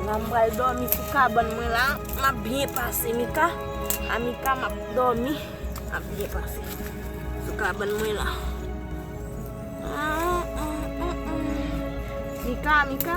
La m pral domi sou kabann mwen la, m ap byen pase Mika, a Mika m ap domi, m ap byen pase sou kabann mwen la. Mika, Mika.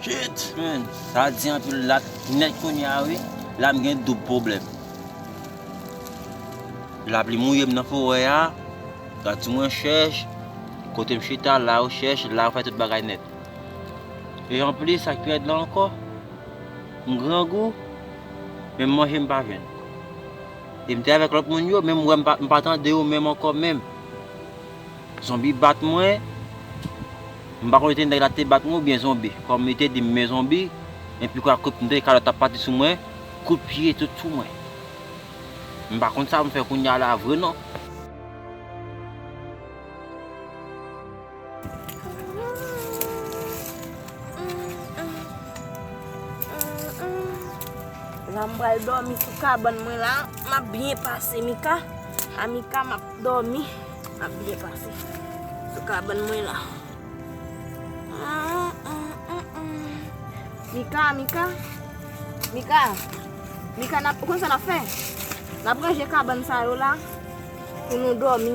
Shit man, sa a di anpil lat nèt kounye a wi, la m gen doub pwoblèm. Lapli mouye m nan forè a, gad si mwen chèch, kote m chita la ou chèch, la ou fè tout bagay nèt. E anplis sak pi rèd la ankò, m grangou, menm manje m pa jwenn. E m te avèk lòt moun yo, men m wè m pa tande yo menm ankò menm. Zonbi bat mwen, m pa konn si se nèg la ki te bat mwen oubyen zonbi. Kòm li te di m men zonbi, men pi kwa kout m tande kalòt ap pati sou mwen, kout pye tout sou mwen. M pa konn sa m fè kounya la vre non. La m pral dòmi sou kabann mwen la. M ap byen pase Mika. A Mika m ap dòmi. M ap byen pase sou kabann mwen la. Mika, Mika. Mika. Mika, ou konn sa n ap fè? N ap ranje kabann sa yo la pou nou dòmi.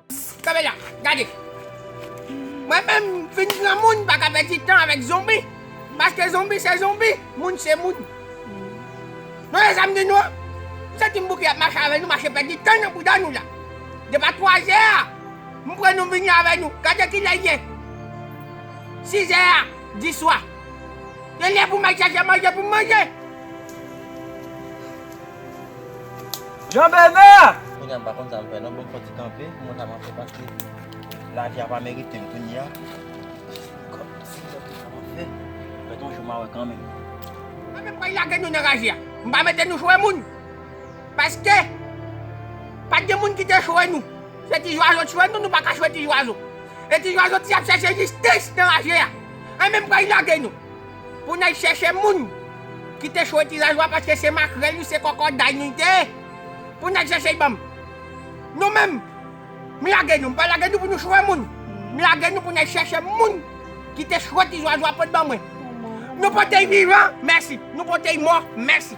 Kanpe la, gade. Mwen menm m fin granmoun m paka pèdi tan avèk zonbi. Paske zonbi se zonbi, moun se moun. Nou wè sa m di nou an? M santi m bouke ap mache avè nou, mache pèdi tan nan bouda nou la. Depi a twazè a, m pran nou m vini avè nou. Gade kilè l ye. Sizè a diswa. Li lè pou m al chache manje pou m manje. Jean Bernard! Kounya m pa konn sa m fè non bon m sòti kanpe m wè sa map fè paske lavi a pa merite m kounya kòm si m wè sa map fè fèt yon jou ma wè kanmenm. Mwen menm pral lage nou nan raje a m pa mete nou chwe moun paske pat gen moun ki te chwe nou se ti zwazo t chwe nou nou pa ka chwe ti zwazo e ti zwazo ti ap chèche jistis nan raje a mwen menm pral lage nou. Pou nèg chèche moun ki te chwe ti zazwa paske se makrèl yo se kòkòday nou te ye pou nèg chèche y banm nou menm m lage nou m pa lage nou pou nou chwe moun m lage nou pou nèg chèche moun ki te chwe ti zwazwa pot ban mwen nou pote y vivan mèsi nou pote y mò mèsi.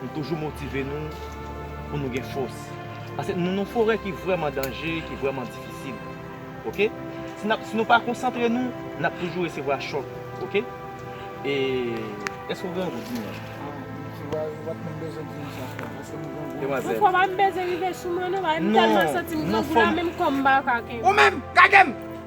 Nou toujou motive nou pou nou gen fòs. Pase nou nan forè ki vrèman danje, ki vrèman difisil. Ok. Si nap si nou pa konsantre nou, nap toujou resevwa chòk. Ok. E èske ou grangou di mwen? Wap menm bezwen di nou sa frèm. Èske nou grangou? Demwazèl. Ou pa menm bezwen rive sou mwen non. Bagay m tèlman santi m grangou la menm kò m pa ka kenbe. Ou menm! Kage m!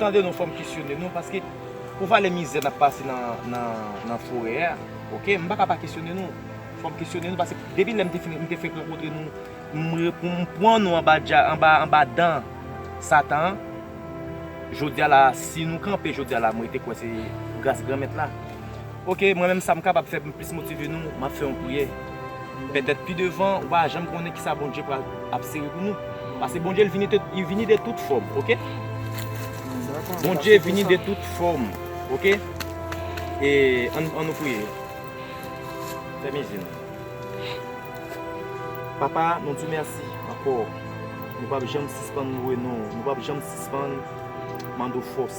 Tande non fòm kesyone nou paske pou valè mizè nap pase nan forè a ok m paka pa kesyone nou fòm kesyone nou paske depi lèm te finn m te fenk rankontre nou m pwan nou anba dan satan jodia la si nou kanpe jodia la m rete kwè se gras granmèt la. Ok mwen menm sam kapab fè poum plis motive nou map fè yon priyè pètèt pi devan ou pa janm konnen kisa Bondye pral ap sere pou nou pase Bondye li vini de tout fòm ok Bondye vini de tout fòm ok e an nou priye fèmen zye nou papa nou diw mèsi ankò nou pap janm sispann louwe non nou pap janm sispann mandew fòs.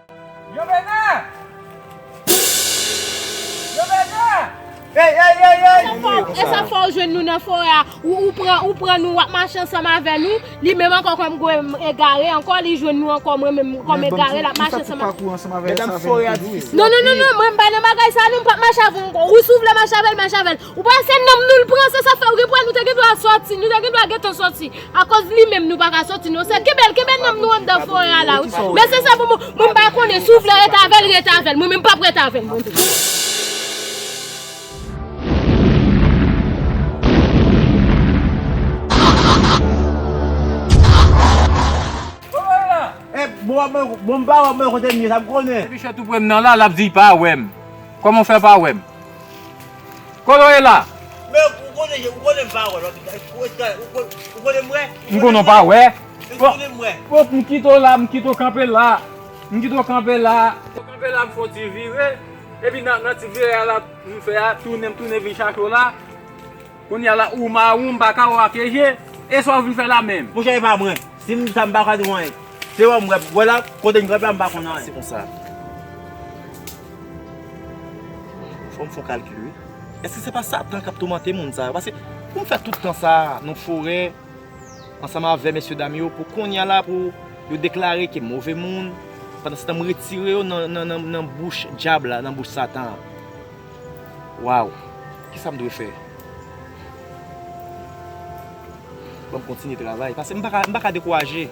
Yo vene! Yo vene! Ey ey ey ey! Ki moun yo sa? Esa fwa ou jwenn nou nan forè a, ou pran ou pran nou wap mache ansanm avè nou, li menm ankò kòm gwo egare ankò li jwenn nou ankò mwen menm kòm egare lap mache ansanm avè nou. Medam forè a difisil anpil. Non non non non mwen m pa nan bagay sa non m pap mache avè w ankò ou si w vle mache avè l mache avè l. Ou pa wè se nanm nou l pran se sa fè ou gen pou wè nou te gen dwa sòti nou te gen dwa gentan sòti akoz li menm nou pa ka sòti non sè kenbe l kenbe nanm nou anndan forè a la wi men se sa pou mwen mwen pa konnen si w vle ret avè l ret avè l mwen menm m pap ret avè l mwen menm. Kolo ye la? Men ou konnen je ou konnen m pa wè lòt nèg ou ret gade ou konnen m wè? M konnen w pa wè? Èske w konnen m wè? Fòk m kite w la m kite w kanpe la m kite w kanpe la m kanpe la m fon ti vire epi nan ti vire a la m fè a tounen m tounen vin chache w la. Kounya la ou mawon mpaka wè w ak e je e sa w vin fè la menm. Monchè e pa mwen, si m di sa m paka di w anyen. Se wè w m wè, wè la kote n kanpe a m pa konn anyen. Se konsa. Fò m fon kalkil wi. Èske se pa satan k ap toumante moun sa yo? Paske pou m fè tout tan sa a nan forè ansanm avè mesye dam yo pou kounya la pou yo deklare ke move moun pandansetan m retire yo nan bouch dyab la, nan bouch satan an. Waww kisam dwe fè. Banm kontinye travay pase m paka dekouraje.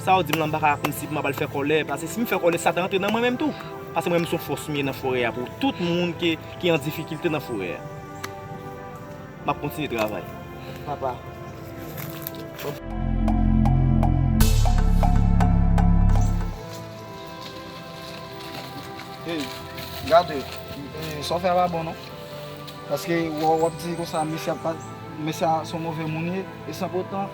Sa ou dim lan m paka kmsi pou map al fè kòlè pase sim fè kòlè satan antre nan mwen menm tou. Pase mwen menm son fòs m ye nan forè a pou tout moun ki an difikilte nan forè a. Map kontinye travay papa. Hey gade sa w fè a pa bon non paske w ap di konsa mesye a mesye a se yon move moun ye e san potan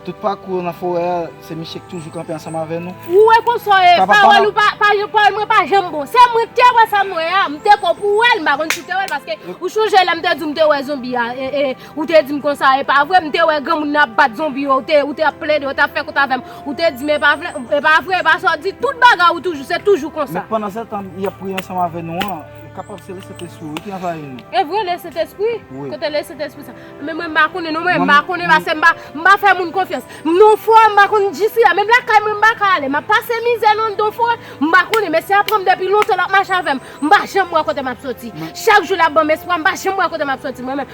tout pakou yo nan forè a se misye ki toujou kanpe ansanm avè nou Ou wè konsa w ye pawòl ou pa pawòl mwen pa janm bon se mwen k te wè sa m wè a m te kwè w pou w wè l m pa konn si w te wè l paske ou chonje lè m te di w m te wè zonbi a e Ou te di m konsa, e pa vre? M te wè granmoun nan ap bat zonbi yo, ou te ap plede, ou t ap fè kont avè m. Ou te di m e pa vre, e pa vre, e pa sa w di. Tout bagay ou toujou, se toujou konsa. Men pandansetan, y ap priye ansanm avè nou an, kapab se Lesentespri wi ki anvayi nou. E vre, Lesentespri? Wi. Kote Lesentespri sa? Men mwen m pa konnen non, mwen m pa konnen pase m pa, m pa fè moun konfyans. M nan w forè, m pa konn jisriya. Menm lakay mwen m pa ka ale. M ap pase mizè nan nan w forè, m pa konnen. Mesye a pran m depi lontan, l ap mache avè m. M pa janm wè kote m ap soti. Chak jou l ap ban m espwa, m pa janm wè kote m ap soti mwen menm.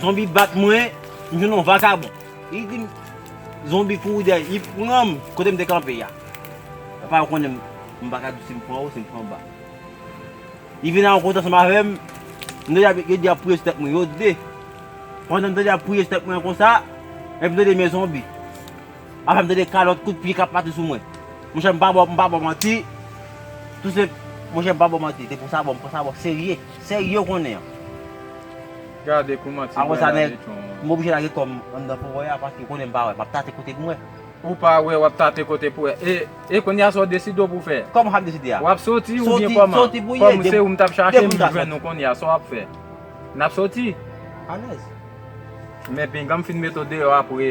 Zonbi bat mwen, m jwenn yon vakabon. Li di m, zonbi kouri dèyè m, li pran m kote m te kanpe a. Apa yo konnen m pa ka di si m pran anwo, si m pran anba. Li vin nan yon kote ansanm avè m, m tande ap, yo di y ap priye sou tèt mwen, yo de. Pandan m tande y ap priye sou tèt mwen an konsa, epi m tande men zonbi. Apre m tande kalòt kout pye k ap pati sou mwen. Monchè m pa ba w m pa ba w manti, tou senp monchè m pa ba w manti, te pou sa bò m pran sa bò serye, serye ou konnen an. Gade kouman ti grenn la beton an. Apre sa nèg, m oblije lage kò m anndan forè a paske ou konnen m pa wè, m ap tate kote m wè. Ou pa wè, w ap tate kote pou wè. E, e kounye a sa w deside w pou fè? Kòman sa m deside a? W ap soti oubyen kòman? Soti, soti pou ye. Kòm se ou m t ap chache, m jwenn ou kounye a, sa w ap fè? N ap soti? Alèz. Men pinga m fin mete w deyò apre.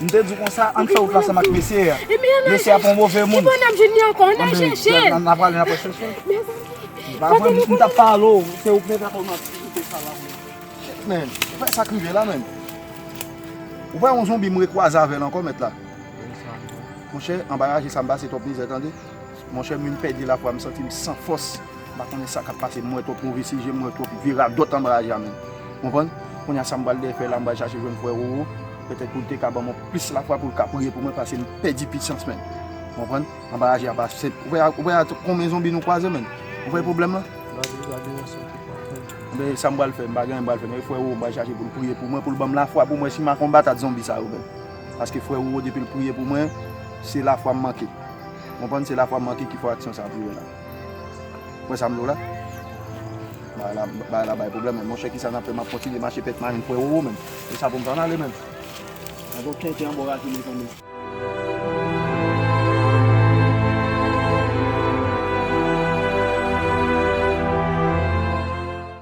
M te di w konsa, ann fè wout la ansanm ak mesye a. Mesye a pa yon move moun. Ann al pale n apre chèche l. Se pa vre, m t ap pale w. Se ou k mete atò w nan difikilte sa la menm. Shit menn, ou wè sa k rive la menn. Ou wè yon zonbi m rekwaze avè l ankò mèt la. Monchè, anba raje sa m pase twòp mizè tande. Monchè, m vin pèdi lafwa, m santi m san fòs. M pa konnen sa k ap pase. M wè twòp move sijè, m wè twòp vi radòt anba raje a menn. Konprann? Kounye a sa m pral dèfè la, m pral chache jwenn frè Roro. Petèt pou l te ka ban mwen plis lafwa pou l ka priye pou mwen pase m pèdi pisyans mèn. Ou konprann? Anba aji a pa senp. Ou wè ou wè ak konbyen zonbi nou kwaze mèn. Ou wè pwoblèm lan? Gade gade yon sèl kout map fè l. Enben sa m pral fè, m pa gen anyen m pral fè men frè Roro m pral chache pou l priye pou mwen pou l ban m lafwa pou mwen si m a konbat ak zonbi sa yo mèn. Paske frè Roro depi l priye pou mwen se lafwa m manke. Ou konprann? Se lafwa m manke ki fè aksyon sa a tou wè la. Wè sa m di w la? Bagay la bay pwoblèm menm. Monchè, ki sa n ap fè? M ap kontinye mache pèt marenn kwè wowo menm? E sa pou m fè ann ale menm? Gen gwo tenten anba w raje mezanmi.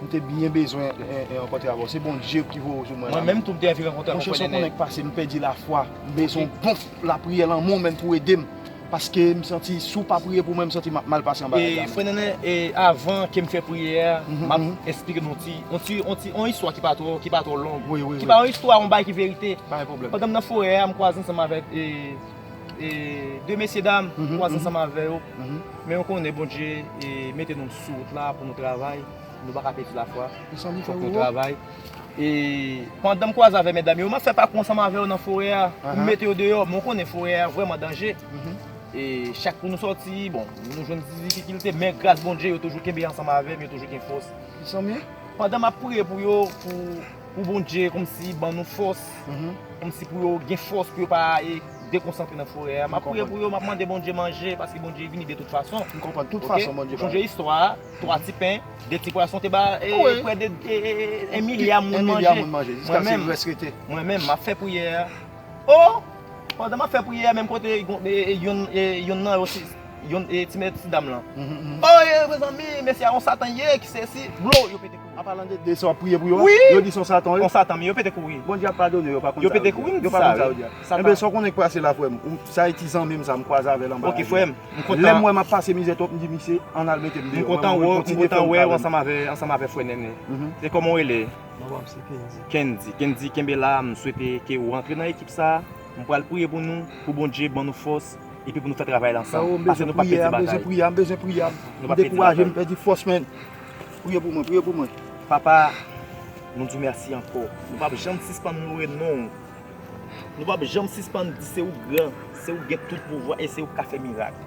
M te byen bezwen rankontre avè w. Se Bondye ki voye w sou mwen la. Mwen menm tou m te anvi rankontre avè w Pwofè. Monchè, se yon konnen k pase, m pèdi lafwa. M bezwen yon bon lapriyè lanmou w menm pou w ede m. Paske m santi si w pa priye pou mwen, m santi m ap mal pase anba radar mwen. Frè Nènè, avan ke m fè priyè a, m ap esplike nou yon ti, yon ti, yon istwa ki pa twò, ki pa twò long. Ki pa yon istwa, yon bagay ki verite. Pa gen pwoblèm. Pandan m nan forè a, m kwaze ansanm avèk e. e 2 mesye dam m kwaze ansanm avè yo men yo konnen Bondye mete nou sou wout la pou nou travay nou pa ka pèdi lafwa fòk nou travay e pandan m kwaze avè medam yo m ap fè pakou ansanm avè yo nan forè a pou m mete yo deyò men w konnen forè a vrèman danje e chak pou nou sòti bon nou jwenn ti difikilte men gras Bondye yo toujou kenbe ansanm avè m yo toujou gen fòs pandan m ap priye pou yo pou Pou Bondye kòmsi ban nou fòs, kòmsi pou yo gen fòs pou yo pa e dekonsantre nan forè a. M ap priye pou yo, m ap mande Bondye manje, paske Bondye vini de tout fason. M konprann, tout fason Bondye ba yo. Ok, ou sonje istwa a, 3 ti pen, 2 ti pwason te ba e prè de 1 milya moun manje. 1 milya moun manje, jiskase li rès rete. Mwen menm, m ap fè priyè a. O! Pandan m ap fè priyè a, menm kote yonn nan yo, ti mèsidam lan. O! Mezanmi, mesye a yon satan li ye, ki sesi, blow, yo pete. An palan de de sa wap priye pou yo a, yo di son satan yo. Son satan, men yo pete kouri. Bondye ap padone yo, yo pa konn sa yo di a. Yo pete kouri, m di sa wi. Enben sa w konnen k pase la frè m, sa e ti zanmi m sa m kwaze avè l anba radyo a. Ok frè m, m kontan. Lè m wè m ap pase mizè twòp m di misye an al mete m deyò. M kontan wè w, m kontan wè w ansanm avè frè Nènè. E kòman w rele? Non pa m se Kendy. Kendy, Kendy kenbe la, m swete ke ou rantre nan ekip sa a. M pral priye pou nou, pou Bondye ban nou fòs epi pou nou fè travay la ansanm. Frèo m bezwen priye a, m bezwen priye a, m bezwen priye a. M dekouraje, m pèdi fòs men. Priye pou mwen, priye pou mwen. Papa, nou di w mèsi ankò. Nou p ap janm sispann loure non w. Nou p ap janm sispann di se ou k gran, se ou k gen tout pouvwa e se ou k ka fè mirak.